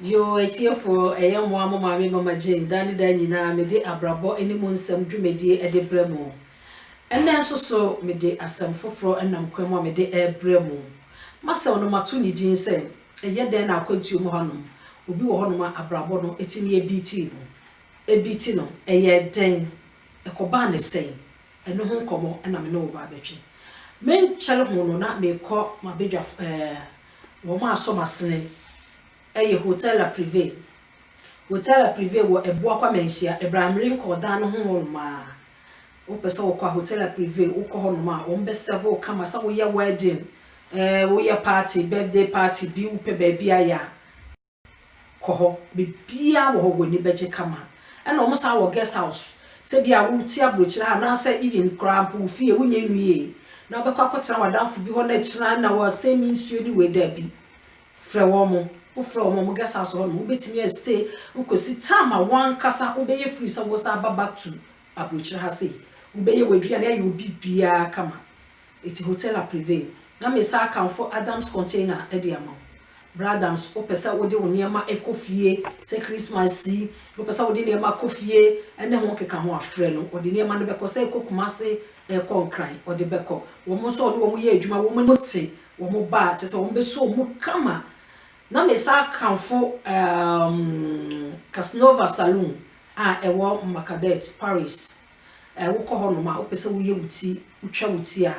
Yoo atiefoɔ ɛyɛ moa mo maame Mama Jane daa ne daa nyinaa mede abrabɔ ne mu nsɛm dwumadie de brɛ mo. Ɛnnɛ nso so mede asɛm foforɔ nam kwan mu a mede rebrɛ mo. M'asɛm no mato ne din sɛ Ɛyɛ dɛn na akwantuo mu hanom obi wɔ hɔnom a abrabɔ no tumi biitii no? Ebiiti no, ɛyɛɛ dɛn? Ɛkɔbaa no sɛn? Ɛno ho nkɔmmɔ na me ne wo ba bɛtwe. Me nkyɛr ho no na merekɔ m'abadwafo ɛɛ wɔn a asɔ m'asene ɛyɛ Hotel La Privée. Hotel La Privée wɔ Ɛboa Kwame Anhyia. Ɛberɛ a merenkɔ ɔdan no ho hɔnom a, wopɛ sɛ wokɔ a Hotel La Privée wokɔ hɔnom a wɔn bɛ serve wo kama sɛ woyɛ wedding, ɛɛ woyɛ party, birthday party bi wopɛ baabi ayɛ a. kɔ hɔ, biribiara wɔ hɔ w'ani bɛgye kama. Ɛna wɔn san wɔ guest house, sɛ bi a wote abrokyire ha anaasɛ even koraa mpo wo fie wonyɛ nwiee na wobɛkɔ akɔtena w'adamfo bi hɔ na akyire a na wasɛe me nsuo ne wei daabi. Frɛ wɔn, wo frɛ wɔn a wɔn guest house hɔ nom wobɛtumi a stay kɔsi time a w'ankasa wobɛyɛ free sɛ wosan ba back to abrokyire ha sei, wobɛyɛ w'aduane ayɛ wo biribiara kama. Eti hotel a prevail. Na me saa akamfo Adams container de ama wo. Bra Adams wo pɛ sɛ wode wo nneɛma kɔ fie sɛ Christmas yi, wo pɛ sɛ wode nneɛma kɔ fie ne ho keka ho a frɛ no, ɔde nneɛma no bɛkɔ sɛ ɛkɔ Kumasi, ɛkɔ Nkran, ɔde bɛkɔ. Wɔn nso ɔne wɔn yɛ adwuma, wɔn ani te, wɔn ba a kyerɛ sɛ wɔn bɛso wɔn mu kama. Na me saa akamfo um Casanova Saloon a ɛwɔ Marcadet, Paris. Ɛ, wokɔ hɔnom a, wopɛ sɛ woyɛ wo ti, wotwa wo ti a,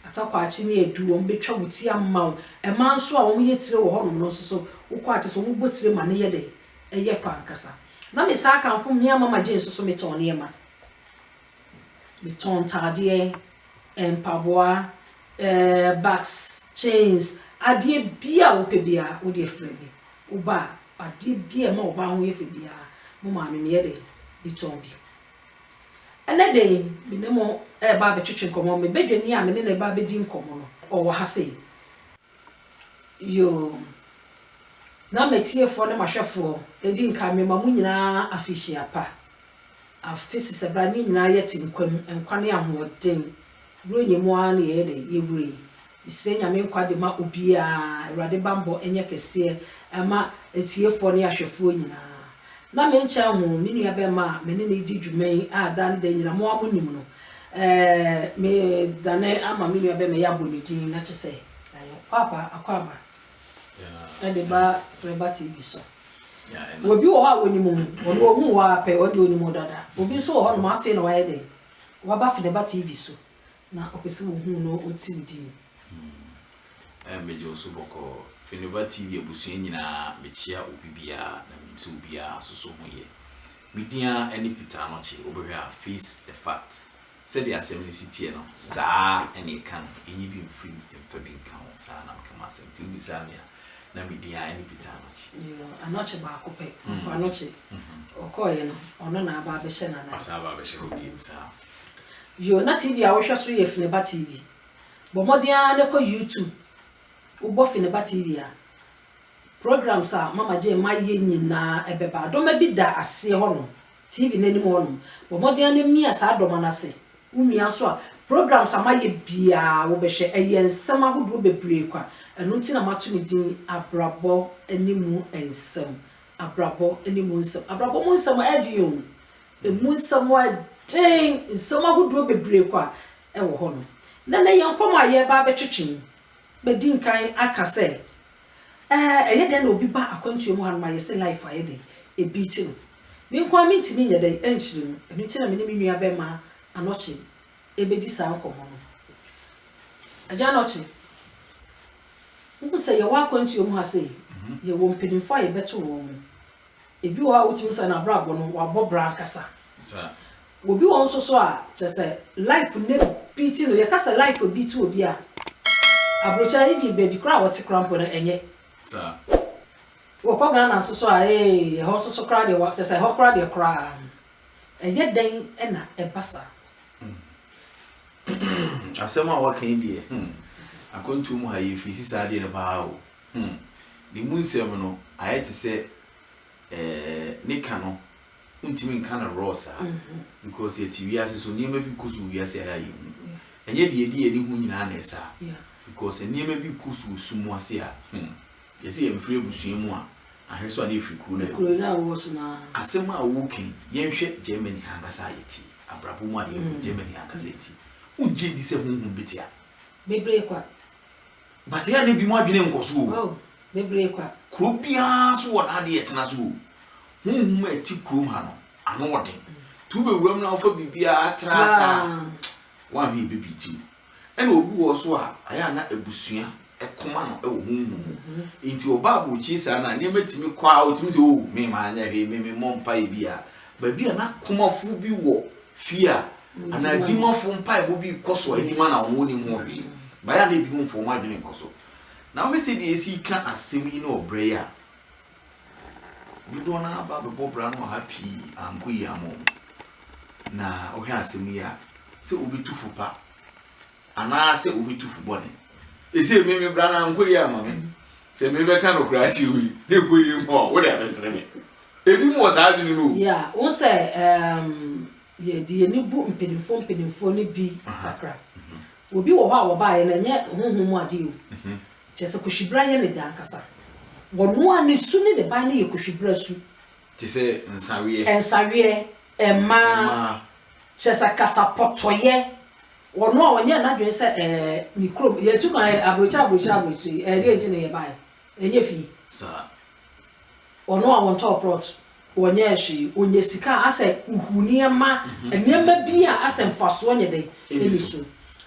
Atakwaakye ne Adu, wɔbɛtwa wo ti ama wo. Mmaa nso a wɔyɛ tire wɔ hɔnom no nso so, wokɔ a, kyerɛ sɛ wɔbɔ tire ma no yɛ dɛn? Ɛyɛ fɛ ankasa. Na mesan akamfo mmea Mama Jane nso so, metɔn nneɛma. Metɔn ntadeɛ, ɛ, mpaboa, ɛ, bags, chains, adeɛ biara a wopɛ biara, wo deɛ frɛ me. Woba a, adeɛ biara a ɛma ɔbaa ho yɛ fɛ biara, mo maame, meyɛ dɛn? Metɔn bi. Ɛnnɛ da yi, me ne mo reba abɛtwetwe nkɔmmɔ. Me badwani a me ne no reba abɛdi nkɔmmɔ no, ɔwɔ ha sei. Yoo, na m'atiefoɔ ne m'ahwɛfoɔ, ɛdi nkan, mema mo nyinaa afehyia pa. Afe Sesɛbɛane nyinaa yɛte nkwa mu, nkwa ne ahoɔden. Berɛ ɔnya mu ara na yɛyɛ dɛn? Yɛwura yi. Mesrɛ Nyame nkwagye ma obiaa, Awurade banbɔ nyɛ kɛseɛ ɛma atiefoɔ ne ahwɛfoɔ nyinaa. Na me nkyɛn ho, me nua bɛɛma a me ne no redi dwuma yi a daa ne da nyina mo a mo nim no, eh, me dane ama me nua bɛɛma yi abɔ ne din na kyɛ sɛ yɛ Paapa Akwaaba ɛde ba Reba TV so. Wɔ bi wɔ hɔ a wɔ nim wo, ɔno ɔhuu wo ara pɛ, ɔno deɛ ɔnim wo dada. Obi nso wɔ hɔ nom afei na wayɛ dɛn, waba Fneba TV so, Na ɔpɛ sɛ ɔhu wo na ɔte wo din. Ɛɛ megye wo so bɔkɔɔ. Fenova TV abusua nyinaa mekyea obi biara na mente obiara nso so ho yɛ. Me din ara ne Peter Anokye, wobɛhwɛ a face the fact. Sɛdeɛ asɛm no si teɛ no saa na ɛka no, ɛnyi bi mfiri mu mfa bi nka ho, saa na meka m'asɛm. Nti wobisaa me a. na medin ara ne Peter Anokye. Yoo, Anokye baako pɛ, ɔfo Anokye. Ɔkɔɔeɛ no, ɔno na aba abɛhyɛ no anaa? Ɔsan aba abɛhyɛ hɔ bio, saa. Yoo, na TV a wohwɛ so yɛ Fineba TV. Bɔ mmɔden ara na kɔ YouTube, wobɔ Fineba TV a, programs a Mama Jane ma yɛ nyinaa ɛbɛba. Adoma bi da aseɛ hɔnom, TV no anim hɔ nom. Bɔ mmɔden ara na mia saa dɔma no ase. Wo mia nso a, programs a mayɛ biara wobɛhwɛ. Ɛyɛ nsɛm ahodoɔ bebree kwa. Ɛno nti na mato ne din Abrabɔ ne mu nsɛm. Abrabɔ ne mu nsɛm. Abrabɔ mu nsɛm ɛyɛ den o. Ɛmu nsɛm ɛyɛ den. Nsɛm ahodoɔ bebree kwa wɔ hɔ nom. Na nnɛ yɛn nkɔmmɔ a yɛreba abɛtwetwe yi, madi nkan aka sɛ, Ɛɛ ɛyɛ dɛn na obi ba akwantuo mu hanom a yɛse life ayɛ dɛn? Ɛbeati no. Me nko ara mentumi nyɛ dɛn ɛnkyerɛ mu. Ɛno nti na me ne me nua bɛmaa Anɔkye ɛbɛdi saa nkɔmmɔ no. Agya Anɔkye, wohu sɛ yɛwɔ akwantuo mu ha sei, yɛwɔ mpaninfoɔ a yɛbɛto wɔn. Ebi wɔ hɔ a wotumi sɛ n'abrabɔ no wabɔ bra ankasa. Obi wɔ hɔ nso so a kyerɛ sɛ life no beat no. Yɛka sɛ life abeat obi a, aburokyire a even baabi koraa a wɔte koraa mpo no ɛnyɛ. Wɔkɔ Ghana nso so a ee ɛhɔ nso so koraa deɛ kyerɛ sɛ ɛhɔ koraa deɛ koraa no ɛyɛ dɛn na ɛba saa. Asɛm a woaka yi deɛ, akwantuo mu ha yɛfiri si saa adeɛ no paa o. Hmm. Ne mu nsɛm no, ayɛ te sɛ ɛɛ ne ka no, wontumi nka no raw saa. Because yɛte wiase so, nneɛma bi kɔ so wɔ wiase a ɛyɛ a yɛnhu. Ɛnyɛ deɛ yɛde yɛn ani hu nyinaa na ɛyɛ saa. Because nneɛma bi kɔ so wɔ sum ase a, hmm, yɛ sɛ yɛmfiri abusua mu a, ahwɛ so a na yɛfiri kuro no a yɛwɔ mu. Asɛm a woreka yi, yɛnhwɛ Germany ha ankasa a yɛte yi, abrabɔ mu a yɛwɔ yi, Germany ha ankasa a yɛte yi, wogye di sɛ honhom bɛte a? Bebree kwa. But yɛ a na binom adwene nkɔ so o. Oh, bebree kwa. Kuro biara nso wɔ n'adeɛ ɛtena so o. Honhom a ɛte kurom ha no, ano wɔ den. Nti wobɛwura mu na wofa biribiara tra ase a, woanhwɛ ɛbɛbiiti wo. Ɛna obi wɔ hɔ nso a, ayɛ a na abusua koma no wɔ honhom mu. Nti ɔba aburokyire saa no a, nneɛma tumi kɔ ara, ɔtumi sɛ, oh, me manyɛ hwee, me memmɔ mpaeɛ biara. Baabi a na komafo bi wɔ Fie a, anaa adwumafo mpaebɔ bi rekɔ so a enti ma na wɔnnim ho hwee. Bae a na ebinom mfa wɔn adwene nkɔ so. Na wohwɛ sɛnea yɛasi reka asɛm yi ne ɔbra yi a, dodoɔ no ara aba abɛbɔ bra no wɔ ha pii a ankɔ yie amma wɔn. Na wohwɛ asɛm yi a, sɛ wobetu fo pa Anaasɛ wobetu fo bɔne. Ese emi me bra na nkɔ yie ama me. Sɛ me bɛka nokora akyere wo yi na ɛkɔ yie mma wo a, wo de abɛsere me. Ebi mo wɔ saa adwene no o. Yeah, wohu sɛ ehm yɛde yɛn ani bu mpanyinfoɔ mpanyinfoɔ no bi kakra. Obi wɔ hɔ a wɔbaeɛ no ɛnyɛ honhom mu adeɛ o. Kyerɛ sɛ Kohwibra yɛ ne gya ankasa. Ɔno ara ne su ne ne ban no yɛ Kohwibra su. Te sɛ nsaweɛ. Nsaweɛ, mmaa. Mmaa. Kyerɛ sɛ kasapɔtɔyɛ. Wɔn a wɔnyɛɛ n'adwene sɛ ɛɛ, me kurom, yɛtu kwan ɛɛ, aburokyire aburokyire aburokyire yi, ɛɛ, deɛn nti na yɛbaeɛ? Ɛnyɛ fie. Saa. Wɔn a wɔntɔɔ plot, wɔnyɛɛ hwee, wɔnya sika a asɛ huhu nneɛma, nneɛma bi a asɛ mfasoɔ nyɛ dɛn? Ɛnni so.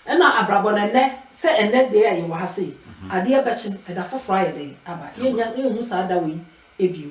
Ɛna abrabɔ no ɛnnɛ, sɛ ɛnnɛ deɛ a yɛwɔ ha sei, adeɛ bɛkye, ɛda foforɔ ayɛ dɛn? Aba. Yɛnnya, yɛnhu saa da wei bio.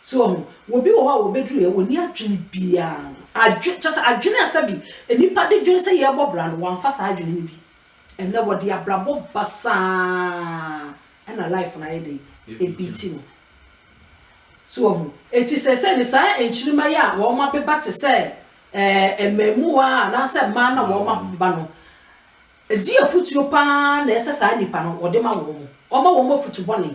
So wahu? Obi wɔ hɔ a wɔbɛduruiɛ, ɔnni adwene biara. Adwe, kyerɛ sɛ adwene a sɛbi nnipa de dwene sɛ yɛrebɔ bra no, wamfa saa adwene no bi. Ɛnnɛ wɔde abrabɔ basaa na life no ayɛ dɛn? Ɛbiiti no. So wahu? Enti seesei no saa nkyirima yi a wɔabeba te sɛ ɛɛ mmɛɛmuwa anaasɛ mmaa no a wɔabeba no, ɛdeɛ afutuo pa ara na ɛsɛ saa nnipa no wɔde ma wɔn? Wɔma wɔn afutu bɔne.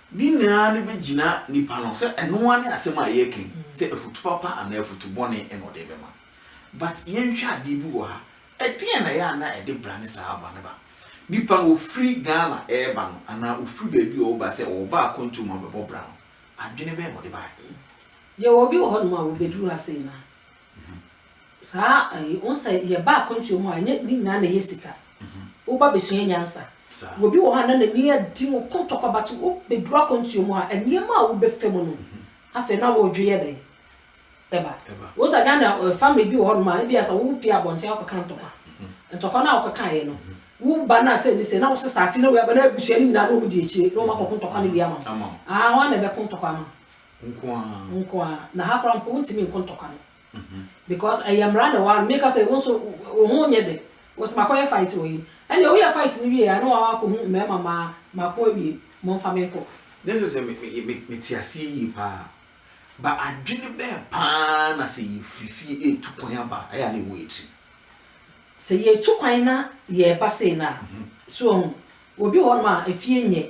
Ne nyinaa no bɛgyina nipa no sɛ ɛno ara ne asɛm a yɛreka yi, sɛ afutu papa anaa afutu bɔne na ɔde rebɛma. But yɛnhwɛ adeɛ bi wɔ ha, ɛdeɛn na ɛyɛ a na ɛde bra ne saa aba no ba? Nipa no ɔfiri Ghana reba no anaa ɔfiri baabi a ɔreba sɛ ɔreba akwantuo mu abɛbɔ bra no, adwene bɛn na ɔde baeɛ? Yɛwɔ bi wɔ hɔnom a wɔbɛduru ha sei no a, Saa ayi wohu sɛ yɛba akwantuo mu a ɛnyɛ ne nyinaa na ɛyɛ sika woba bɛsua nyansa obi wɔ hɔ a na n'ani adi mu kɔntɔkwa but wo bɛduru akwantuo mu a nneɛma a wo bɛfa mu no afei na wo dwe yɛ dɛn ɛba wohu sɛ Ghana family bi wɔ hɔ nom a ebia sɛ wo pie abɔnten akɔ ka ntɔkwa ntɔkwa no a wokɔ kaeɛ no wo ba no a sɛ ne sɛ na wo sesa ate na wei aba na abusua no nyinaa na wɔn di akyire na wɔn akɔ ko ntɔkwa no bi ama wo ah wɔn na ɛbɛko ntɔkwa ama nko ara. Nko ara. Na ha koraa mpo wontumi nko ntɔkwa no. Because ɛyɛ mmara na ɛwɔ ha. Meka sɛ wo nso wo ho nyɛ dɛ. Wose makɔyɛ fight wɔ yi. Ɛnneɛ woyɛ fight no wieeɛ a ne woakɔ akɔhu mmarima mmaa mako awie. Momfa me nkɔ. Nyɛ sɛ sɛ mete aseɛ yie pa ara. But adwene bɛn pa ara na sɛ yɛfiri fie retu kwan aba a, ɛyɛ a na ɛwɔ yɛn tirim? Sɛ yɛretu kwan na yɛreba sei no a, so woahu, obi wɔ hɔnom a efie nyɛ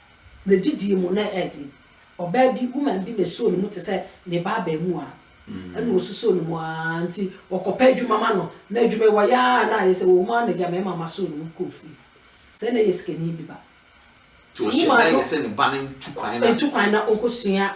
Ne gyidie mu na ɛɛde. Ɔbaa bi, woman bi na ɛsoo ne mu te sɛ ne ba abaamua. Ɛna ɔsusoo ne mu ara nti wɔkɔpɛ adwuma ma no. Na adwuma yi wɔyɛ ara na ayɛ sɛ wɔ mu ara na Gyamɛ mama soo ne mu kɔɔ fie. Sɛ na ɛyɛ sikani bi ba. Nti wɔhyɛɛ da yɛ sɛ ne ba no ntu kwan na. Ntu kwan na ɔnkɔsua.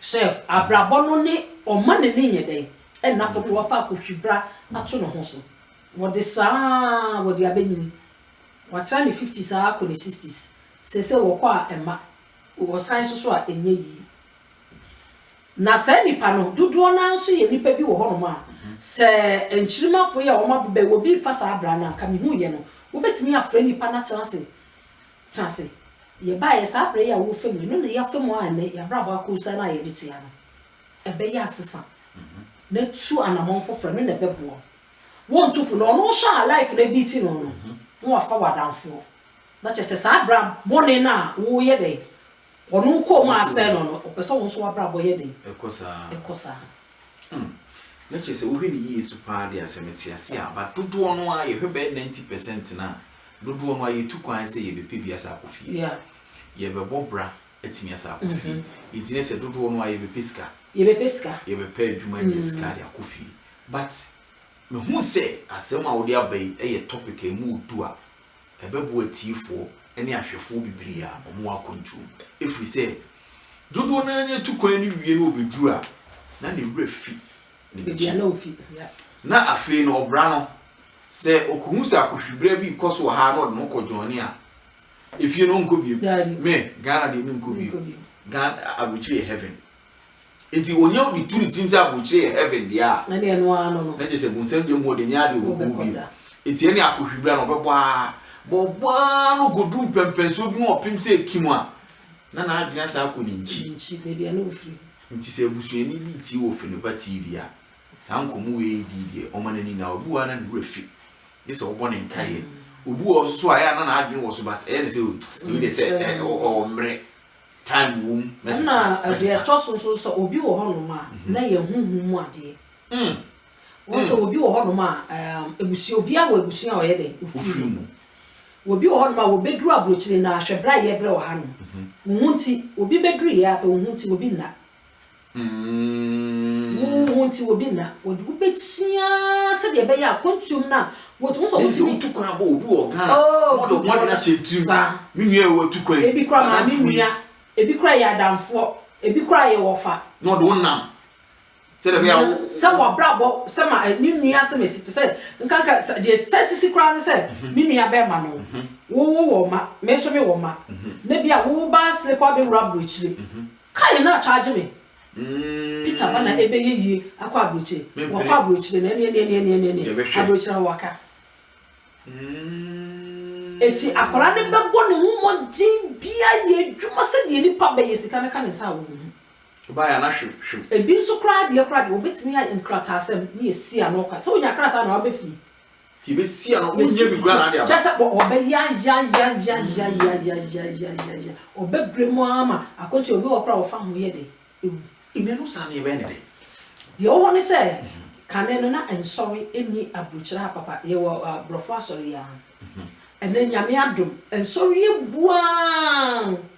Sɛ abrabɔ no ne ɔma n'ani nyɛ dɛ nna fam na wafa akohwibra ato ne ho so. Wɔde saa ara wɔde abɛnyini. Watra ne fifties ara kɔ ne sixties. Seesei wɔkɔ a mma, wɔsan nso so a ɛnyɛ yie. Na saa nnipa no dodoɔ no ara nso yɛ nnipa bi wɔ hɔnom a, sɛ nkyirimafo yi a wɔabobɛ wɔ bi refa saa bra no a, anka mehuiɛ no, wobɛtumi afrɛ nnipa no atena ase Tena ase. Yɛbaeɛ saa berɛ yi a worefa mu, ɛno na yɛafa mu a ɛnnɛ yɛabrabɔ akɔ osian a yɛde tea no. Ɛbɛyɛ asesa na tu anamɔn foforɔ, ɛno na ɛbɛboa wo. Wontu fo, na ɔno wo hwɛ a life no abiiti no no, na wafa w'adamfoɔ. Na kyerɛ sɛ saa bra bɔne no a woreyɛ dɛn, Wɔn kɔn mu asɛe no no, ɔpɛ sɛ wo nso w'abrabɔ yɛ dɛn? Ɛkɔ saa. Ɛkɔ saa. Hmm. Na kyerɛ sɛ wohwɛ no yie so paa deɛ a, sɛ mete ase a, but dodoɔ no ara, yɛhwɛ bɛyɛ ninety percent no a, dodoɔ no ara yɛtu kwan ara sɛ yɛbɛpɛ bi asa akɔ fie. Yeah. Yɛbɛbɔ bra atumi asa akɔ fie. Nti na sɛ dodoɔ no ara yɛbɛpɛ sika. Yɛbɛpɛ sika. Yɛbɛpɛ adwuma anya sika de akɔ fie. But mehu sɛ asɛm a wode aba yi yɛ topic a ɛmu yɛ du a ɛbɛboa atiefoɔ ne ahwɛfoɔ bebree a wɔn akwantuo mu, ɛfiri sɛ dodoɔ no ara no atu kwan no wie na wɔbɛduru a, na ne werɛ fi ne nkyi. Na afei no, ɔbra no, sɛ ɔkɔhu sɛ akohwibra bi rekɔ so wɔ ha na ɔde ne ho kɔ dwɔɔne a, efie no ɔnkɔ bio. Me, Ghana deɛ menkɔ bio. Ghana, aburokyire yɛ heaven. Enti onya obi tu ne tirim sɛ aburokyire yɛ heaven dea a, na kyerɛ sɛ bonsam deɛ mu ɔde nyɛ adeɛ ɔbɛkɔ hɔ bio. Enti ɛne akɔhwi bra na ɔbɛbɔ ara, bɔ ɔbɔ ara no kɔduru mpɛmpɛnsoɔ bi mu ɔpem sɛ ɛkim a, na n'adwene asan akɔ ne nkyi. Nti sɛ abusuani bi retie wɔ Feneba TV a, saa nkɔmmɔ wei redi deɛ, ɔma n'ani nna. Obi wɔ hɔ a na ne werɛ fi, gye sɛ ɔbɔ ne nkaeɛ. Obi wɔ hɔ nso so a, ɛyɛ a na n'adwene wɔ so but ɛyɛ no sɛ oh, wei deɛ sɛ ɔmmrɛ. Time wom na sesa. Ɛna deɛ ɛtɔ so nso sɛ obi wɔ hɔnom a na yɛ honhom mu adeɛ. Wohu sɛ obi wɔ hɔnom a abusua obiara wɔ abusua a ɔyɛ dɛ ofiri mu. Obi wɔ hɔnom a wɔbɛduru aburokyire no ara hwɛ berɛ a yɛbrɛ wɔ hanom. Wo ho nti obi bɛduru yɛ ara pɛ wo ho nti obi nna. Wo ho nti obi nna, wɔde wo bɛkyia sɛdeɛ ɛbɛyɛ a kɔntuom no a wɔtumi sɛ wɔtumi. Mean sɛ wotu kwan abɔ obi wɔ ɔga a, oh, wɔde ɔmo adwene ahyɛ tirim. Me nua ɛwɔ atu kwan. Ebi kora maa me nua, ebi kora yɛ adamfoɔ, ebi kora yɛ wɔfa. Na ɔde wo nam. Sɛ de bɛyɛ wo. Sɛ wɔbrabɔ sɛ ma eh, ne nua sɛ mesi te sɛ nkanka sɛ deɛ tɛsi si koraa ne sɛ mhm. me nua bɛrima no mhm. wowo wɔ ma me nso me wɔ ma mhm. na bi a wo ba slepa bɛwura aburokyire. Car yɛ na charge me. Peter ba na ɛbɛ yɛ yie akɔ abrokyire wakɔ abrokyire no ɛneɛ neɛ neɛ neɛ neɛ neɛ abrokyire hɔ waka ɛti akwadaa no bɛ bɔ ne ho mmɔden bia yɛ adwuma sɛ deɛ nipa bɛ yɛ sika no ka ne nsa a wɔbɛ hu ɔbaa yɛ na hwim hwim ebi nso koraa deɛ koraa deɛ wɔbɛtumi ayɛ nkrataa sɛm ne yɛ si ano kwa sɛ wɔnya krataa na wɔabɛ fie Nti yɛbɛsia no, wonyɛ biribiara na ade aba. Kyerɛ sɛ wɔbɛyayayayayayayayayayayaya, wɔbɛbrɛ mu ara ma akwati, obi wɔ hɔ koraa a wɔfa ho yɛ dɛ, ɛwu. Amen, wo saa nneɛ bɛyɛ ne dɛ. Deɛ ɛwɔ hɔ ne sɛ, kane no na nsɔre nni aburokyire ha papa, yɛwɔ aborɔfo asɔre yi ara, ɛnnɛ Nyame adom, nsɔre abu ara.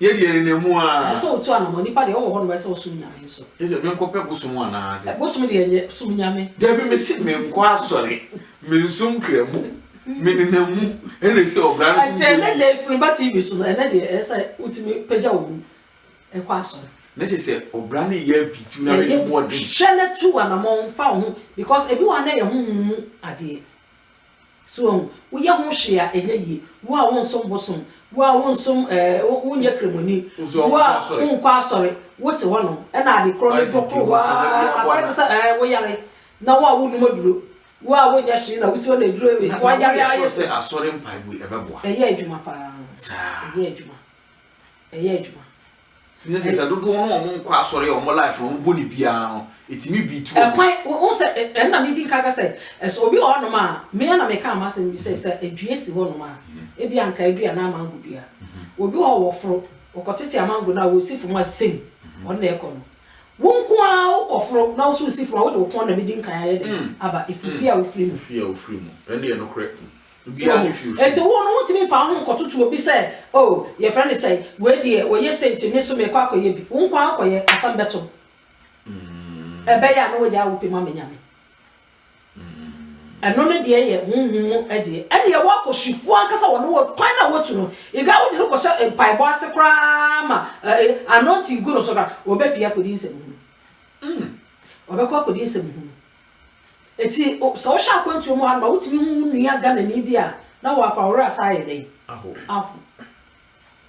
Yɛ deɛ nenam mu ara. Ɛsɛ sɛ wotu anamɔ. Nipa deɛ ɔwɔ hɔ nom ɛsɛ sɛ ɔsom Nyame nso. Kyerɛ sɛ menkɔ pɛ bosom anaa sɛ. Bosom deɛ nyɛ, som Nyame. Dabi mese menkɔ asɔre, mensom kramu, menenam mu ɛna ɛsɛ ɔbra no so nti ɛnɛ deɛ firi ba TV so no ɛnɛ deɛ ɛsɛ sɛ wotumi pagya wo mu ɛkɔ asɔre. Na kyerɛ sɛ ɔbra no yɛ abitiu na mede bɔɔden. Hwɛ na tu anamɔ nfa wo ho because ebi wɔ ha na ɛyɛ honhom mu adeɛ. So wahu? Woyɛ ho hwee a, ɛnyɛ yie. Wo a wonsom bosom, wo a wonsom ɛɛ, wonyɛ kramoni, wo a wonkɔ asɔre, wote hɔnom na ade korɔ no dwo koro wo ara, akɔyɛ te sɛ ɛɛ, woyare, na wo a wonnom aduro, wo a wonyɛ hwee na wosi hɔ na aduro wei, woayare ara yɛ sei. Ɛyɛ adwuma pa ara. Ɛyɛ adwuma. Ɛyɛ adwuma. Tumi te sɛ dodoɔ no wɔn nkɔ asɔre a wɔn life no wɔn bɔ ne biara no ɛtumi beat wɔn. Ɛkwan wo sɛ ɛno na medi nka ka sɛ ɛsɛ obi wɔ hɔnom a me ara na mekaa m'asɛm bi sɛ sɛ dua si hɔnom a ebi a nka adua anaa mango dua obi wɔ hɔ wɔforo wɔkɔtete amango no a wɔsi fam a same ɔno na ɛkɔ no wo nko ara wokɔforo na wo nso wosi fam a wode wo kɔn na medi nkan ayɛ dɛn aba ɛfiri fie a wofiri mu. Fie a wofiri mu ɛno yɛ nokorɛ. So ohu? Enti wo no, wontumi mfa wo ho nkɔtoto obi sɛ, Oh, yɛfrɛ no sɛn, wei deɛ, ɔyɛ sei nti, me nso merekɔ akɔyɛ bi. Wo nko ara kɔyɛ, asɛm bɛto wo. Ɛbɛyɛ a na woagyaa wo pɛ mu ama Nyame. Ɛno no deɛ yɛ honhom mu deɛ. Ɛnneɛ w'akɔhwifoɔ ankasa wɔ no wɔ kwan no a woatu no. Ega wode no kɔhyɛ mpaebɔ ase koraa ma ɛɛ anointing gu no so koraa, ɔbɛpue akɔdi nsɛmhunu. Ɔbɛkɔ akɔdi nsɛmhunu. Enti sɛ wohyɛ akwantuo mu a na wotumi hu wo nua Ghanani bi a na w'akɔ a wo werɛ asan ayɛ dɛn? Ahow.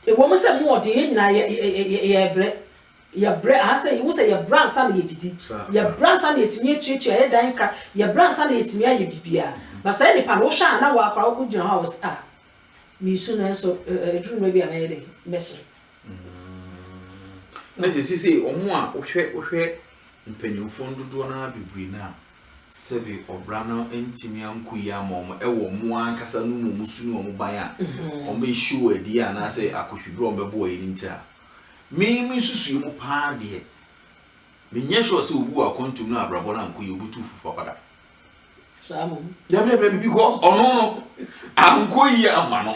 Ɛwɔ mu sɛ mu wɔ den, yɛn nyinaa yɛ yɛ yɛ yɛ yɛbrɛ. Yɛbrɛ anaasɛ wohu sɛ yɛbrɛ ansa na yɛdidi. Yɛbrɛ ansa na yɛtumi atuatua yɛn dan ka. Yɛbrɛ ansa na yɛtumi ayɛ biribiara. But saa nipa no wohwɛ a na w'akɔ a wogyina hɔ a wo se ah meresu nanso ɛduru mmerɛ bi a mɛyɛ dɛn? Mɛsere. Mm. Na sisi sɛ wɔn a wohwɛ wohwɛ mpanyinfoɔ no dodoɔ no ara bebree no a sɛbi ɔbra no ntumi anko yi ama wɔn ɛwɔ wɔn ankasa no mu wɔn su ne wɔn ban a mm-hmm. wɔn bɛ show adi anaasɛ akɔhwibere wɔn bɛbɔ wɔn ani nti a mee me nsusuo mu paa deɛ menyɛ sure sɛ obi wɔ akɔntum no abrabɔ no anko yi obi tu fufu papada. dabidabi bi because ɔno no ankɔ yie ama no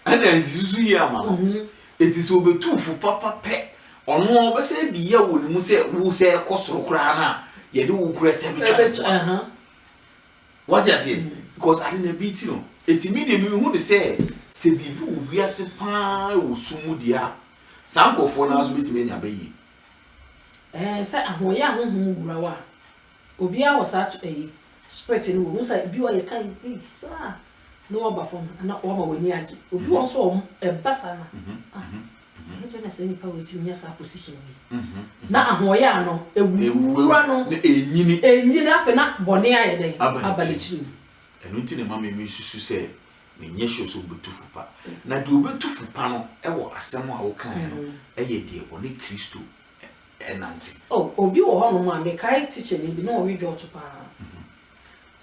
ɛna nsusu yie ama no mhm. eti sɛ obetu fo papa pɛ ɔno ɔbɛsɛ de yɛ wɔ ne mu sɛ wo sɛ ɛkɔ soro koraa na yɛde wo kura sɛ ɛbɛtwa ne kɔ uh-huh. wɔte aseɛ mhm. because ade na bi ti no eti mi de mi hu ne sɛ sɛ biribi wɔ wiase paa wɔ sum mu deɛ a saa nkurɔfoɔ no ara so betumi anya bɛyie. ɛɛ sɛ ahoyɛ ahohom wura wa. Obiara wɔ saa to ɛyi, spirit no wɔ mu. Wohu sɛ ebi wɔ hɔ a yɛ kan ei saa na waba fam na wama w'ani agye. Obi wɔ hɔ nso a ɔm ɛba saa na ah ɛyɛ dɛn na saa nipa wei tumi nya saa position wei. Na ahoɔyaa no ɛwuwura no, ɛnyini afei na bɔne ayɛ dɛn aba ne tiri mu. Ɛno nti na ɛma me me susu sɛ me nyɛ sure sɛ obetu fo pa. Na deɛ obetu fo pa no ɛwɔ asɛm a wo kaeɛ no ɛyɛ deɛ ɔne Kristo nante. Oh obi wɔ hɔ nom a mekae tikyani bi na ɔwe dwɔɔto paa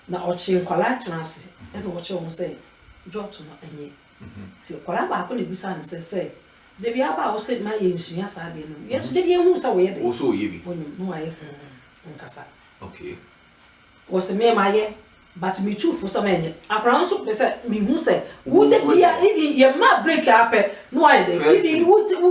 na ɔkye nkwadaa tena ase na ɔkyerɛ wɔn sɛ dwɔɔto no nyɛ nti akwadaa baako na ebisaa no sɛ sɛ dabi aba a wose ma yɛn nsua saa adeɛ no yɛn nso dabi yɛn huu sɛ wɔyɛ dɛn wɔyɛ bi wɔnim na wɔayɛ huu nkasa okay Ɔse me mayɛ but me tu fo sɛ menyɛ. Akwadaa no nso pɛ sɛ mehu sɛ wo de bia even yɛ ma break ara pɛ na wayɛ dɛ even wo wo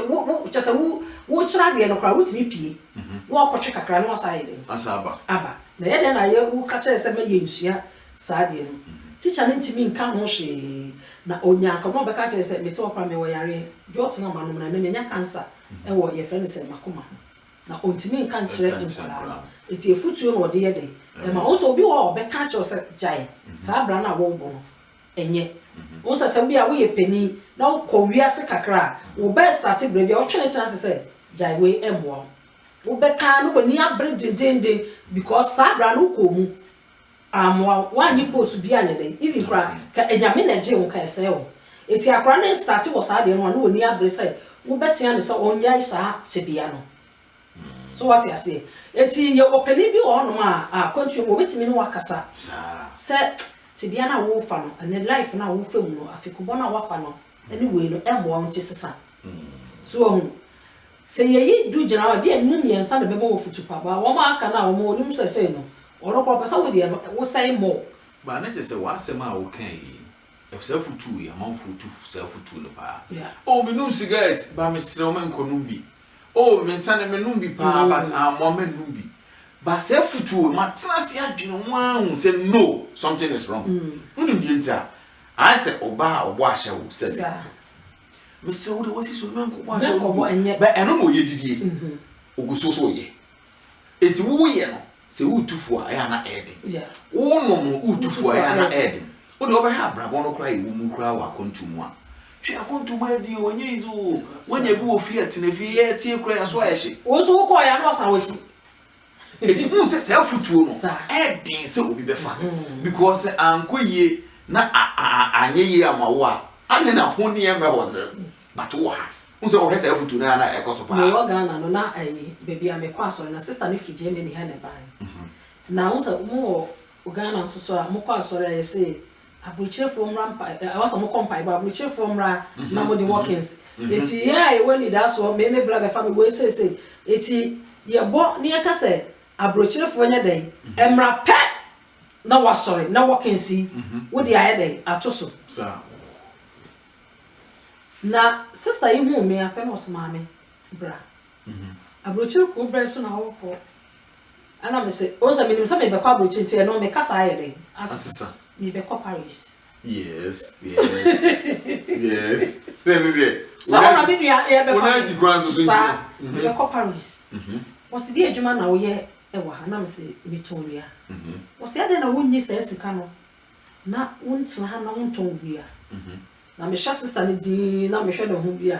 wo wo kyɛ sɛ wo wo kyerɛ adeɛ no koraa wotumi pie na wakɔtwe kakra na wasan ayɛ dɛn asa aba aba na ɛyɛ dɛn na yɛ wo ka kyerɛ sɛ mɛ yɛ nsua saa adeɛ no teacher no ntumi nka ho hwee na onya akɔnɔ na ɔbɛka kyerɛ sɛ mete hɔ koraa mewɔ yareɛ jɔt na manom na ɛnɛ manya cancer ɛwɔ yɛfrɛ no sɛ makoma ho. Na ɔntumi nka nkyerɛ nkwadaa no. Nti afutuo na ɔde yɛ dɛ ma wɔn. Sɛ obi wɔ hɔ a ɔbɛka akyerɛ wo sɛ gyae saa bra no a worebɔ no nyɛ. Wohu sɛ sɛ bia woyɛ panin na wokɔ wiase kakra a, wobɛstate bra bi a wotwe ne tena ase sɛ gyae wei ɛmmoa wo. Wobɛka ara na w'ani abere dendeenden because saa bra no wokɔɔ mu. Ammoa wo wanyɛ post bi anyɛ dɛn even koraa ka anyame na ɛgyee wo ka ɛsɛɛ wo ɛti akora no starte wɔ saa deɛ no a na ɔnni abere sɛ wo bɛtea no sɛ ɔnyae saa tebea no so wate aseɛ ɛti yɛwɔ panin bi wɔ hɔ nom a a kwantuo mu ɔbɛtumi ne wo akasa sɛ tebea no a wo refa no ɛnɛ life no a wo refa mu no afikubɔ no a wo afa no ne wei no ɛmmoa wo ti sesa. So wahu? Sɛ yɛyi du gyina hɔ a, ebia nnum mmiɛnsa na ɛbɛma wafutu papa. Wɔn a aka no a wɔn onim sɛsɛe no, ɔno koraa ɔpɛ sɛ wodeɛ no wosɛe more. But na kyerɛ sɛ w'asɛm a wokae yi, saa afutuo yi, amanfoɔ tu saa afutuo no paa. Oh, menom sigaret, but mesrɛ wo menkɔnom bi. Oh, me nsa no menom bi paa, but ammoa mɛnnom bi. But saa afutuo, matena ase adwene ho ara hu sɛ no, something is wrong. Wonim deɛ nti a? Ayɛ sɛ ɔbaa a ɔbɔ ahyɛ wo sɛ me kɔ. Mesrɛ wo de w'asi so na menkɔbɔ ahyɛ wo bio. Bɛ ɛno na ɔyɛ didie. Ɔgu so so yɛ. Enti wo wo yɛ no sɛ wo retu fo a ɛyɛ a na ɛyɛ den. Wo wo nom no wo retu fo a ɛyɛ a na ɛyɛ den. Wo deɛ wo bɛhwɛ abrabɔ no koraa a ɛwɔ mu koraa wɔ akwantuo mu a. Hwɛ akwantuo mu ɛyɛ den o ɛnyɛ easy o. Woanya bi wɔ fie a tena fie yɛ tie koraa yɛ so ayɛ hye. Wo nso wo kɔɔeɛ a na wasan w'akyi. Enti wohu sɛ saa afotuo no ɛyɛ den sɛ obi bɛfa because sɛ ankɔ yie na anyɛ yie ama wo a adɛn na ho nneɛ mɛ hɔ dze but wɔ ha wohu sɛ wɔhwɛ saa afotuo no a na ɛkɔ so paa. Mewɔ Ghana no na ɛyi baabi a mekɔ asɔre na sister no firi Germany ha na ɛbaeɛ na wohu sɛ mo wɔ Ghana nso so a mokɔ asɔre a yɛse Aburokyerefoɔ mmra mpa eh, ɛwɔ sɛ ɔmo kɔ mpaebɔ, aburokyerefoɔ mmra na ɔmo de walkings. Eti yɛn a yɛwɔ anidasoɔ, me me bra bɛfa me wei seesei. Eti yɛbɔ na yɛka sɛ aburokyerefoɔ nyɛ dɛn? Ɛmmra pɛ na wasɔre na walkings yi wode ayɛ dɛn? Ato so. Saa. Na sister yi huu me a pɛ na ɔse maame bra. Abrokyire kuw bɛn so na worekɔ? Ɛna me se, wohu sɛ menim sɛ merebɛkɔ abrokyire nti ɛno me kasa ayɛ dɛn? Asesa. Merebɛkɔ Paris. Yes, yes, yes. Sɛ ɛno deɛ. Sɛ wo na me nua yɛbɛfa. Wo nan si kwan so so nti. Saa, merebɛkɔ Paris. Wɔse deɛ adwuma na woyɛ wɔ ha? Ɛna me se, metɔn nnua. Wɔse adɛn na wonnyi saa sika no na wontena ha na wontɔn nnua? Na mehwɛ sista no dinn na mehwɛ ne ho bi a.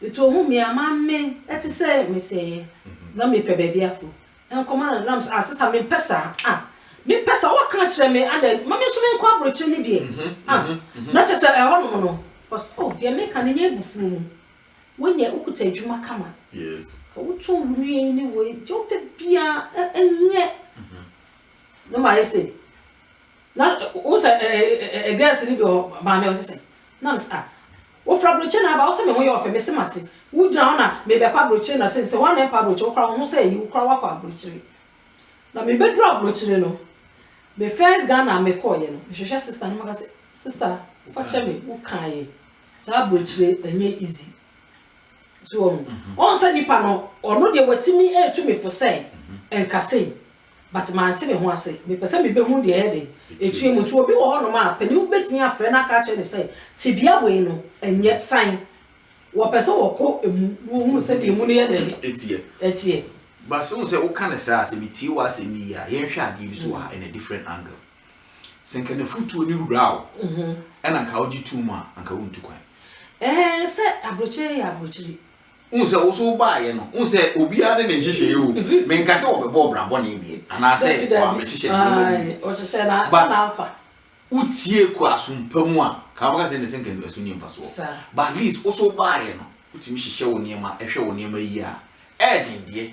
Ito hu me a maame ɛte sɛ mesɛeɛ na me pɛ baabi afo nkɔma no nam ah sista me mpɛ saa ah me mpɛ saa wa ka kyerɛ me ada ma me nso me nkɔ abrokyire no deɛ ah na kyɛ sɛ ɛhɔ nom no cos oh deɛ me ka no nyɛ abufuo mu wo nyɛ wo kuta adwuma kama ka wo tɔn wo nua yi ne wei deɛ wo pɛ biara nyɛ na ma ayɛ sɛ Na wohu sɛ ɛɛ girls no bi wɔ hɔ, maame a ɔse sɛ, na mese ah, wofra aburokyire na aba, wose me ho yɛ ɔfɛ, mese mate, wogyina hɔ na mebɛkɔ aburokyire na se mese hwan na ɛkɔ aburokyire, wokora wo ho sɛ ayi, wokora woakɔ aburokyire. Na mebɛduru aburokyire no, me first Ghana a mekɔɔeɛ no, mehwehwɛ sister no maka sɛ, sister fa kyɛ me, wokaeɛ, saa aburokyire ɛnyɛ easy. So wahu, wahu sɛ nipa no, ɔno deɛ watumi atu me fo sɛ, nka sei, But mante me ho ase. Mepɛ sɛ mebehu deɛ ɛyɛ den, ɛtua mu. Nti obi wɔ hɔnom a, panin betumi afrɛ no aka akyerɛ no sɛ, tebea wei no, ɛnyɛ san. Wɔpɛ sɛ wɔkɔ ɛmu na wɔhunu sɛdeɛ ɛmu no yɛ dɛn? Ɛteɛ. But sɛ wohu sɛ woka no saa a, sɛ metie w'asɛm no yie a, yɛnhwɛ adeɛ bi so wɔ ha in a different angle. Sɛ nka n'afutuo no wura wo, ɛna nka wogye tom a, anka wontu kwan. Ɛɛ, sɛ aburokyire yɛ aburokyire. Wohu sɛ wo so wobaeɛ no, wohu sɛ obiara ne ne nhyehyɛeɛ o, menka sɛ wɔbɛbɔ wo bra bɔne deɛ, anaasɛ wɔammɛhyehyɛ no nneɛma bi mu, but wotie kɔ asom pa mu a, ka wobɛka sɛ ne sɛ nka ɛso nni mfasoɔ, but at least wo so wobaeɛ no, wotumi hyehyɛ wo nneɛma, hwɛ wo nneɛma yie a, ɛyɛ den deɛ,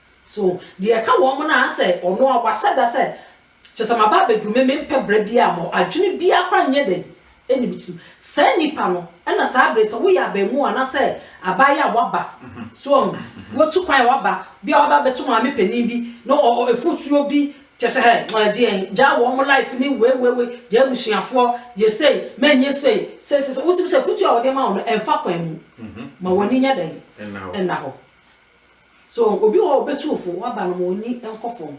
So deɛ ɛka wɔn ho no ara sɛ ɔno a wahyɛ da sɛ, Kyerɛ sɛ maba abɛduru me mempɛ berɛ biara mɔ, adwene biara koraa nyɛ dɛn nni me tirim. Saa nipa no na saa berɛ yi sɛ woyɛ abaamua anaasɛ abaayewa a waba, so wahu, watu kwan a waba, bi a waba abɛto maame panin bi na afutuo bi, kyerɛ sɛ hɛ, ɛgyeɛ, gyaa wɔn life ne wei wei wei, gyaa abusuafoɔ, gyaa sei, mɛnyɛ sei, sei sei sei, wotumi sɛ afutuo a wɔde ma wo no ɛmfa kwan mu, ma w'ani nyɛ dɛn nna hɔ. So obi wɔ hɔ a ɔbɛtu wo fo, w'aba no ma ɔnni nkɔ fam,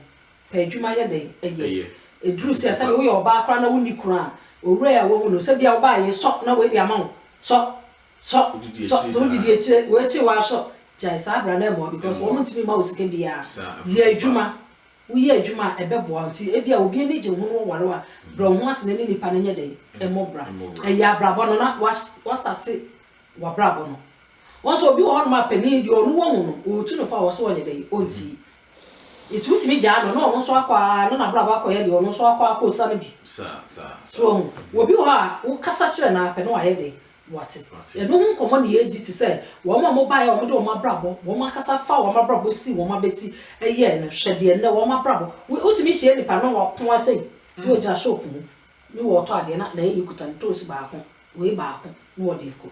pɛ adwuma yɛ dɛn? Ɛyɛ. Ɛduru sɛ sɛdeɛ woyɛ ɔbaa koraa na wonni kunu a, owura yi a woahu no, sɛ bia wo baa yei, sɔ na wei de ama wo, sɔ, sɔ, sɔ, sɛ wodidi akyire, wei akyire woaa sɔ, gyae saa bra no ɛmmoa because wɔn ntumi mma wo sika biara, yɛ adwuma, woyɛ adwuma a ɛbɛboa wo, nti ebia obi ani gye wo ho na waware wo a, brɛ wo ho ase na ne nipa no nyɛ dɛn? Mmɔ bra. Ɛyɛ abrabɔ no na wa, wa starte w'abrabɔ no, Wɔsɛ obi wɔ hɔ nom a panin deɛ ɔno wɔ mu no ɔretu no fo a ɔsɛ ɔnyɛ dɛn? Ɔnti. Nti wotumi gyaa no na ɔno nso akɔ ara na n'abrabɔ akɔyɛ deɛ ɔno nso akɔ akɔsa no bi. So wahu? Obi wɔ hɔ a wo kasa kyerɛ no ara pɛ na wayɛ dɛn? Wate. Ɛno ho nkɔmmɔ na yɛredi te sɛ wɔn a wɔbaeɛ a wɔde wɔn abrabɔ, wɔn ankasa faa wɔn abrabɔ sii wɔn abati yɛɛ no. Hwɛ deɛ nnɛ wɔn abrabɔ, wotumi hyia nipa na wapon ara sei na ɔgyina shop mu na ɔretɔ adeɛ na n'ayɛyi kuta ntoosi baako, wei baako na ɔde rekɔ.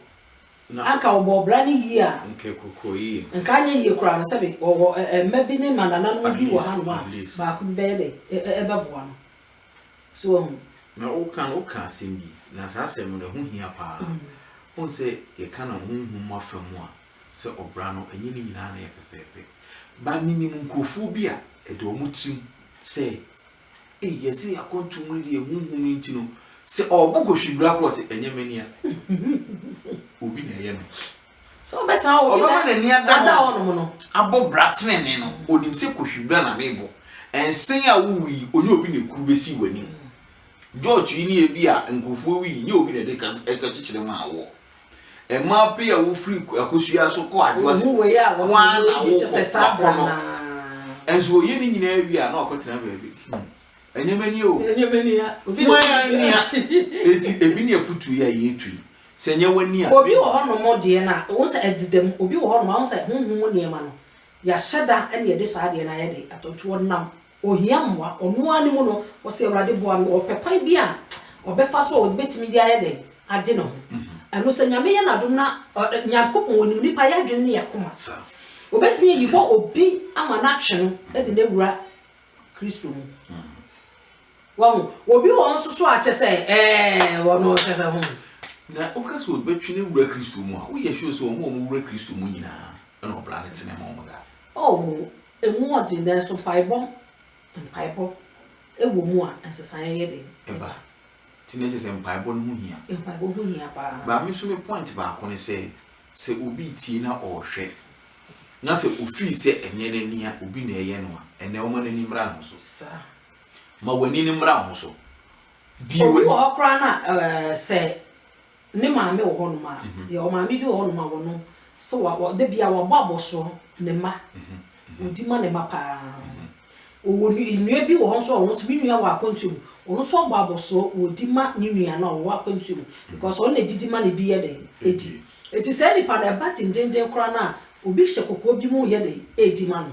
Na anka wɔbɔɔ bra no yie a. Nka ɛkɔkɔɔ yie. Nka anyɛ yie koraa no, sɛbe wɔwɔ mma bi ne nnanananom bi wɔ hanom a, baako bi bɛyɛ dɛ? Bɛboa no. So wahu? Na woka no, woka asɛm bi, na saa asɛm no, ɛho hia pa ara. Wohu sɛ yɛka no honhom afa mu a, sɛ ɔbra no, ɛnyɛ ne nyinaa na ɛyɛ pɛpɛɛpɛ. But menim nkurɔfoɔ bi a, ɛda wɔn tirim sɛ Ei yɛse yɛ akwantuo mu no deɛ ɛho nhu no nti no sɛ ɔɔbo kɔ hwibra korɔ ɔse ɛnyɛ mani a obi na ɛyɛ no sɛ ɔbɛtena hɔ ɔbɛma n'ani ada hɔ nom no abɔ bra tenene no onim sɛ kɔ hwibra na mebɔ ɛnsen a wowu yi ɔnyɛ obi na ekuru bɛsi w'anim George yi ne ebi a nkurɔfoɔ wi yi nyɛ obi na ɛde ɛka kyekyere maa woɔ Mmaa pii a wofiri akosua so kɔ adwoa se wɔn na wokɔ wakɔ no. Nso oye ne nyinaa wie a na wakɔ tena baabi. Ɛnyɛma ni o. Ɛnyɛma ni a. Mo ya ni a. Eti ebi ni afutu ya ye tu yi. Sɛ nyɛ wani a. Obi wɔ hɔ nom deɛ na wɔn sɛ ɛdeda mu. Obi wɔ hɔ nom wɔn sɛ huhu mu nneɛma no yɛahyɛ da ɛna yɛde saa deɛ na yɛde atontoɔ nam Ɔhia mmoa, ɔno ara ne mu no, ɔsɛ Awurade boa me, ɔpɛ kwan bi a ɔbɛfa so a ɔde bɛtumi de ayɛ dɛn? Agye ne ho. Ɛno sɛ Nyame yɛ n'adom na Nyankopɔn ɔnim nnipa y'adwene ne y'akoma. Ɔbɛtumi ayi hɔ obi ama no atwe no de no awura Kristo mu. Wahu? Obi wɔ hɔ nso so a kyɛ sɛ ɛɛɛ ɔno kyɛ sɛ ho. Na woka sɛ ɔbɛtwe no awura Kristo mu a, woyɛ sure sɛ wɔn a wɔwura Kristo mu nyinaa na ɔbra no tene ma wɔn saa? Oh, Emu wɔ den, nanso mpaebɔ mpaebɔ wɔ mu a, nsesaeɛ yɛ den. Ɛba. Nti na ɛkyerɛ sɛ mpaebɔ no ho hia. Mpaebɔ ho hia pa ara. Ba me nso me point baako ne sɛ, sɛ obi retie na ɔrehwɛ, na sɛ ofii sɛ ɛnyɛ n'ani a obi na ɛreyɛ no a, ɛnɛ ɔma n'ani mmra ne ho so. Saa. Ma w'ani no mmra wo ho so. Bue w'ani. Obi wɔ hɔ koraa no a, ɛɛ, sɛ Ne maame wɔ hɔnom a, yɛ wɔ maame bi wɔ hɔnom a wɔno sɛ wa wɔ da biara wabɔ abɔsoɔ ne mma. Ɔdi ma ne mma pa ara. Ɔwɔ nu nnua bi wɔ hɔ nso a ɔno nso me nua wɔ akwantuo mu, ɔno nso abɔ abɔsoɔ ɔdi ma ne nua no a ɔwɔ akwantuo mu because ɔno na ɛdi di ma no bi yɛ dɛn ɛdi. Ɛti saa nnipa no ɛba dendenden koraa no a obi hyɛ kɔkɔɔ bi mu reyɛ dɛn redi ma no.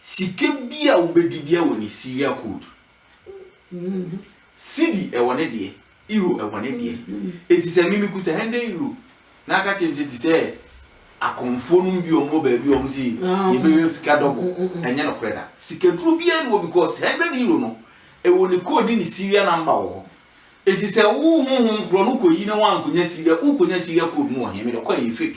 Sika bi a wobɛdi bia wɔ ne serial code. Cedi wɔ ne deɛ, Euro wɔ ne deɛ. Enti sɛ me mekuta hundred Euro na aka kyerɛ me sɛ te sɛ akɔmfoɔ nom bi wɔn wɔ baabi wɔn se yɛbɛyɛ sika double, ɛnyɛ nokorɛ da. Sikaduro biara nni hɔ because hundred Euro no ɛwɔ ne code ne ne serial number wɔ hɔ. Enti sɛ wo honhom korɔ no kɔyi na woankɔnya serial, wokɔnya serial code no wɔ he? Mede kɔ a ɛyɛ fake.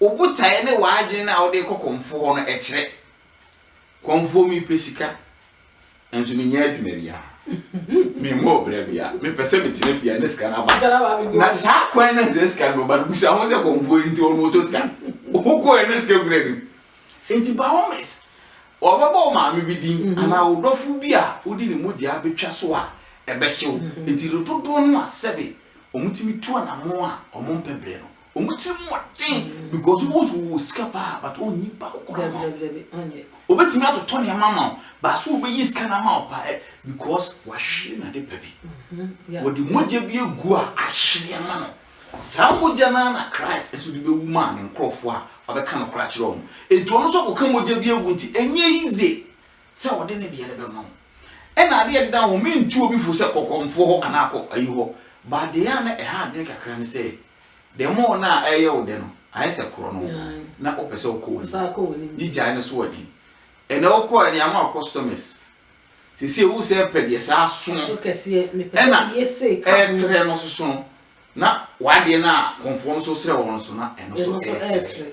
Wo botaeɛ ne w'adwene no a wode rekɔ kɔmfoɔ hɔ no ɛkyerɛ. Kɔmfoɔ mepɛ sika, nanso mennya adwuma biara. Memmɔ ɔbra biara. Mepɛ sɛ metena fie a na sika no aba. Na saa kwan no sɛ sika no bɛba no, busa ho sɛ kɔmfoɔ nti ɔno ɔtɔ sika. Wokɔɛ na sika kura ne mu. Nti by all means, wɔbɛbɔ wo maame bi din mhm. anaa wo dɔfo bi a wode ne mogyaa bɛtwa so a ɛbɛhye wo. Mhm. Nti dodoɔ no a sɛbe wɔtumi tu anamɔ a wɔmpɛ berɛ no, Wɔn ti mu den because wọ́n nso wɔ sika paa but wọ́n nyi baako kura ma o. Obetumi atotɔ nneɛma ma o baaso obeyi sika na ma o paa eh, because wahwere na de pɛ bi. Mm-hmm. Wɔde mogya bi egu a ahyere ama no. Saa mogya no na Christ nso de bewu maa ne nkurɔfoɔ a ɔbɛka no kora kyerɛ wɔn. Enti ɔno nso akɔka mogya bi agu nti ɛnyɛ yize sɛ ɔde ne deɛ no bɛma wɔn. Ɛna adeɛ deda wɔn mentu obi fo sɛ kɔkɔmfoɔ hɔ anaa kɔ ayi hɔ. But deɛ a na ɛha adwene kakra ne sɛ Dɛm a nna ɛyɛ wo dɛ no, ayɛ sɛ korɔ no wo na wopɛ sɛ wokɔ w'anim. Ne gyae no so wɔ den. Ɛnnɛ wokɔe no, yɛama wo customers. Seesei wo sɛ pɛ deɛ saa sono ɛna ɛɛtrɛ no soso no, na w'adeɛ no a kɔmfoɔ no nso srɛ wɔ no so no, ɛno nso ɛɛtrɛ.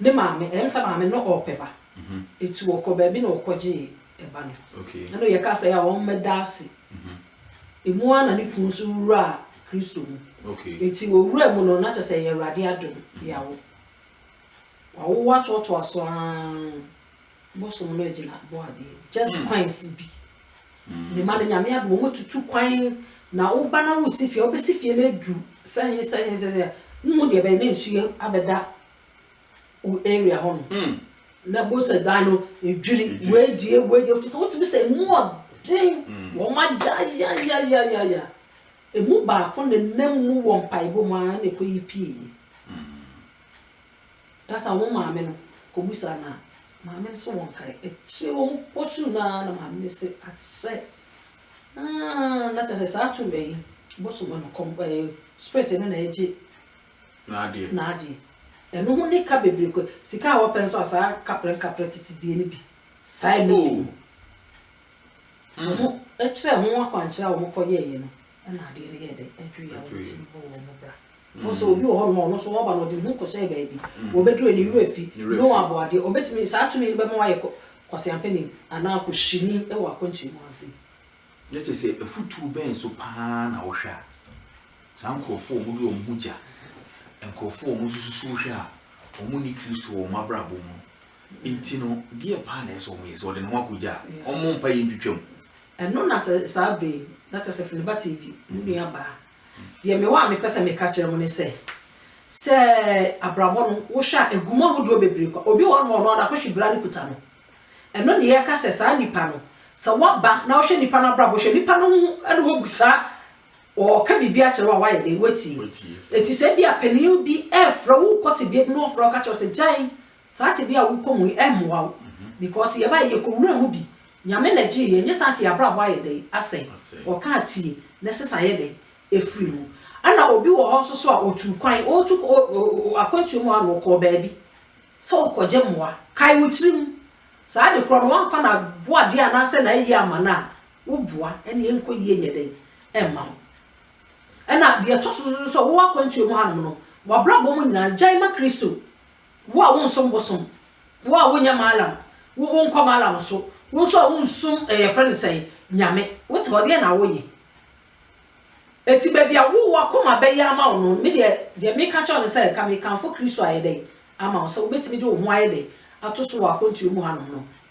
Ne maame, ɛyɛ me sɛ maame no ɔɔpɛ ba. Eti wɔkɔ baabi na wɔkɔgyee ɛba no. Ɛna oyɛ kaa sɛ yɛa ɔmmɛda ase. Emu ara na ne kunu nso wuraa Kristo mu. Eti owuraa mu no, na kyerɛ sɛ ɛyɛ Awurade adom, yɛawo. Wawo atoatoa so ara. Bosom no agyina boade just kwan si bi me ma no nyame adom ɔmo tutu kwan na wo ba na wo si fie a wo bɛ si fie no aduru sɛ he sɛ he sɛ wo hu deɛ ɛbɛyɛ na nsuo abɛ da wo area hɔ nom na bo sɛ dan no ɛdwiri wɔadie wɔadie te sɛ wo tumi sɛ ɛmu ɔden wɔn ayayayayaya ɛmu baako ne nam mu wɔ mpaebɔ mu a na ɛkɔ yi pie That a wɔn maame no kɔ busa na maame no se wɔnkae. Akyire wɔn kɔ suu no ara na maame no se akyɛ aah na kyerɛ sɛ saa tum ɛyi bosom ɛno kɔm ɛɛ spirit no na ɛgye n'adeɛ n'adeɛ. Ɛno ho ne ka bebree kɔ sika a wɔpɛ nso a saa kaprɛ nkaprɛ tete deɛ no bi saa ɛno bi no. Nti wɔn kyerɛ ho akwankyerɛ a wɔn kɔ yɛɛyɛ no Ɛna adeɛ no yɛɛ dɛn? Ɛdwoeɛ a wɔn tirim bɔɔ wɔn bra. Wɔn sɛ obi wɔ hɔnom a ɔno nso ɔba na ɔde ne ho kɔhyɛɛ baabi. Wɔbɛduru a ne werɛ fi. No aboadeɛ. Ɔbɛtumi, saa tumi no bɛma wayɛ kwaseampani anaa kɔhyini wɔ akwantuo mu ase. Na kyerɛ sɛ afutuo bɛn nso pa ara na wohwɛ a saa nkorɔfoɔ a wɔde wɔn ho gya, nkorɔfoɔ a wɔsusu hwɛ a wɔnni Kristo wɔ wɔn abrabɔ mu no Nti no, deɛ paa na ɛsɛ sɛ wɔyɛ, sɛ wɔde ne ho akɔgya a, wɔmmɔ mpaeɛ ntwitwa mu. Ɛno na sɛ saa berɛ yi, na kyerɛ sɛ Filiba TV, me nuabaa, deɛ mewɔ a mepɛ sɛ meka kyerɛ mo ne sɛ, sɛ abrabɔ no, wohwɛ a, ɛgu mu ahodoɔ bebree kwa. Obi wɔ hɔnom a, ɔno ara n'akohwe bira no kuta no. Ɛno ne yɛka sɛ saa nipa no, sɛ woaba na wohwɛ nipa no abrabɔ, hwɛ nipa no ho na wobu saa, ɔreka biribi akyerɛ wo a, woayɛ dɛn? Woatie. Enti sɛ ebia panin bi refrɛ wo, wokɔ tebea bi na ɔfrɛ wo ka kyerɛ wo sɛ, gyae Saa tebea a wokɔ mu yi ɛmmoa wo because yɛbaeɛ yɛkɔwura mu bi Nyame na gyee yɛn nyɛ saa nka yɛabrabɔ ayɛ dɛn asɛe Ɔka a tie na sesa ayɛ dɛn ɛfiri mu Ɛna obi wɔ hɔ nso so a ɔtuu kwan ɔretu akwantuo mu a na ɔkɔɔ baabi sɛ ɔrekɔgye mmoa Kae wo tirim saa ade korɔ no woamfa no aboa adeɛ anaasɛ n'ayie amma no a woboa ɛna ɛnkɔ yie nyɛ dɛn ɛmma wo Ɛna deɛ ɛtɔ so nso so sɛ wowɔ akwantuo mu hanom no w'abrabɔ mu nyinaa no gyae ma Kristo Wo a wonsom bosom, wo a wonyɛ mallam, wo wonkɔ mallam nso, wo nso a wonsom eh yɛfrɛ no sɛn, Nyame. Wote hɔ, deɛn na woyɛ? Enti baabi a wo w'akoma bɛyɛ ama wo no, me deɛ, deɛ meka kyerɛ wo ne sɛ, nka mekamfo Kristo ayɛ dɛn ama wo, sɛ wobɛtumi de wo ho ayɛ dɛn ato so wɔ akwantuo mu hanom no,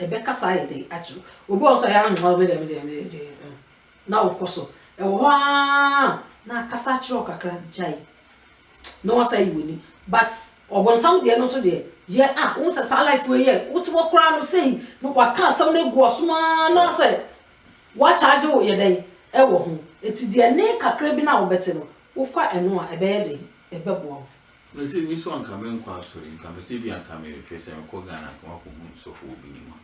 Ɛbɛkasa ayɛ dɛ akyerɛ wo. Obi wɔ hɔ nso a, ɛyɛ a, mm, me deɛ, me deɛ, me deɛ, deɛ, mm, na wokɔ so. Ɛwɔ hɔ ara na akasa akyerɛ wo kakra, gyae, na woasan ayi w'ani. But ɔbonsam deɛ no nso deɛ, yɛ a, wohu sɛ saa life wei yɛ, wote hɔ koraa no sei, na waka asɛm no agu w'asom ara na sɛ wɔakyagye wo yɛ dɛn wɔ ho. Enti deɛ ɛne kakra bi no a wobɛte no, wofa ɛno a, ɛbɛyɛ dɛn? Ɛbɛboa wo. Na sɛ me nso anka menkɔ asɔre nka me sɛ ebia anka mehwɛ sɛ mekɔ Ghana anka makɔhu sɔfo wɔ Binima.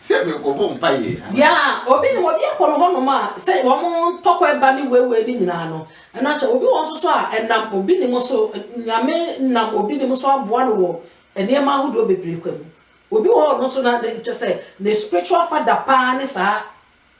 sɛ mekɔbɔ mpaeɛ. Ya obi no obi akɔ no hɔnom a sɛ wɔn ntɔkwa ba ne wewe ne nyinaa no ɛna kyɛ obi wɔn soso a ɛnam obi ne mo so nyame nam obi ne mo so aboa no wɔ nneɛma ahodoɔ bebree kwa mu obi wɔ hɔ no so na kyɛ sɛ ne spiritual father paa ne saa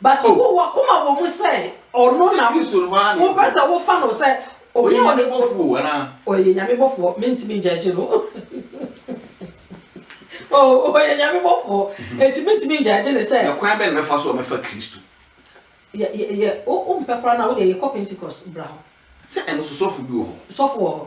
But wo wakoma wɔ mu sɛ ɔno na wo pɛ sɛ wo fa no sɛ obi a ɔyɛ nyame bɔfoɔ anaa ɔyɛ nyame bɔfoɔ me ntumi ngyɛ gye no oh ɔyɛ nyame bɔfoɔ eti me ntumi ngyɛ gye ne sɛ na kwan bɛn na bɛfa so a bɛfa kristo yɛ yɛ yɛ o o mpɛ koraa na wo deɛ yɛ kɔ pentecost bra hɔ sɛ ɛno so sɔfo bi wɔ hɔ sɔfo wɔ hɔ.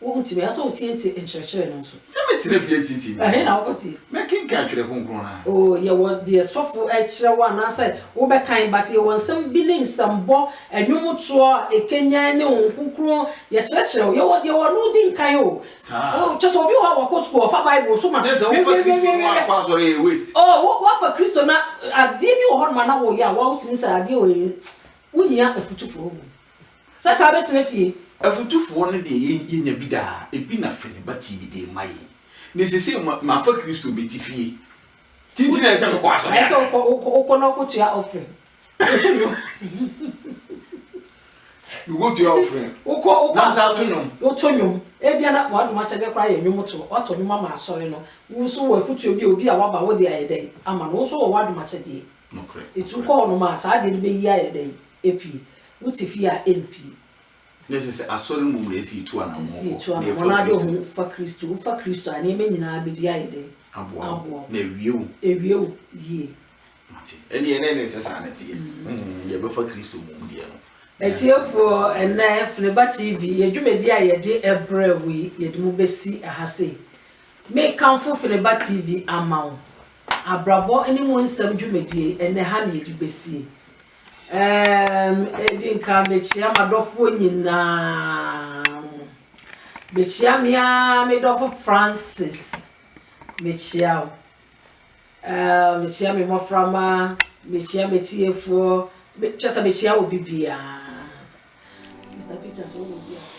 Wohu tumi ara sɛ wotiatia nkyerɛkyerɛ no nso. Sɛ metena fie atiatia nti. Ɛhe na wokɔ tie? Mɛkenkan Twerɛ Kronkron no ara. Oh, yɛwɔ deɛ sɔfo kyerɛ wo anaasɛ wobɛkan, but yɛwɔ nsɛm bi ne nsɛmbɔ, nnwomtoɔ a ɛkanyan ne Honhom Kronkron, yɛkyerɛkyerɛ wo. Yɛwɔ deɛ wɔno wodi nkan o. Saa. Oh, kyerɛ sɛ obi wɔ hɔ a wakɔ sukuu, ɔfa Bible so ma. Kyerɛ sɛ wofa Kristo no ara kɔ asɔre a, ɛyɛ waste. Oh, wo, woafa Kristo na adeɛ bi wɔ hɔnom a na woyɛ a woa wotumi hu sɛ adeɛ wei, wohia afutu foforo wɔ mu. Sɛ taa bɛtena fie. Afotufoɔ no deɛ yɛn yɛnya bi daa, ebi na Fene ba Tibi de rema yɛn. Ne sesei ma mafa Kristo meti fie. Ti nti na ɛsɛ sɛ mekɔ asɔre Ɛsɛ sɛ anaa? wokɔ wokɔ wokɔ na wokɔtua offering. Wotu nnwom. Mekɔtua offering Wokɔ wokɔ na mesa ato asɔre nnwom. wotɔ nnwom. Ebia na w'adom akyɛdeɛ koraa yɛ nnwomtoɔ. Woatɔ nnwom ama asɔre no. Wo nso wowɔ afotuo bi a obi a waba wode ayɛ dɛn ama no? Wo nso wowɔ w'adom akyɛdeɛ. Nokorɛ, Enti nokorɛ. wokɔ hɔnom a saa adeɛ no bɛyi ayɛ dɛn? Epi, wo te fie a empi. Na ɛsɛ sɛ Asɔre mu mmerɛ sii tu anamɔn kɔ, na yɛfa Kristo. Ade ho fa Kristo, wo fa Kristo a, nneɛma nyinaa bɛdi ayɛ dɛn? Aboa wo, na awie wo. Awie wo yie. Mo ate? Ɛnneɛ na ɛne sɛ saa na ɛteɛ. Deɛ ɛbɛfa Kristo mu deɛ no. Atiefoɔ, ɛnnɛ Fneba TV, yɛ dwumadie a yɛde ɛbrɛ wo yi, yɛde mo bɛsi ɛha sei. Me kamfo Fneba TV ama wo. Abrabɔ ne mu nsɛm dwumadie yi, ɛnnɛ ɛha na yɛde bɛsie. Erm, edi nkan mekyea m'adɔfoɔ nyinaa. Mekyea me ara me dɔfo Francis. Mekyea wo. Erm, mekyea me mmɔframma, mekyea m'atiefoɔ, me, kyɛ sɛ mekyea obi biara. Mr. Peter, sɛ wowɔ bi a.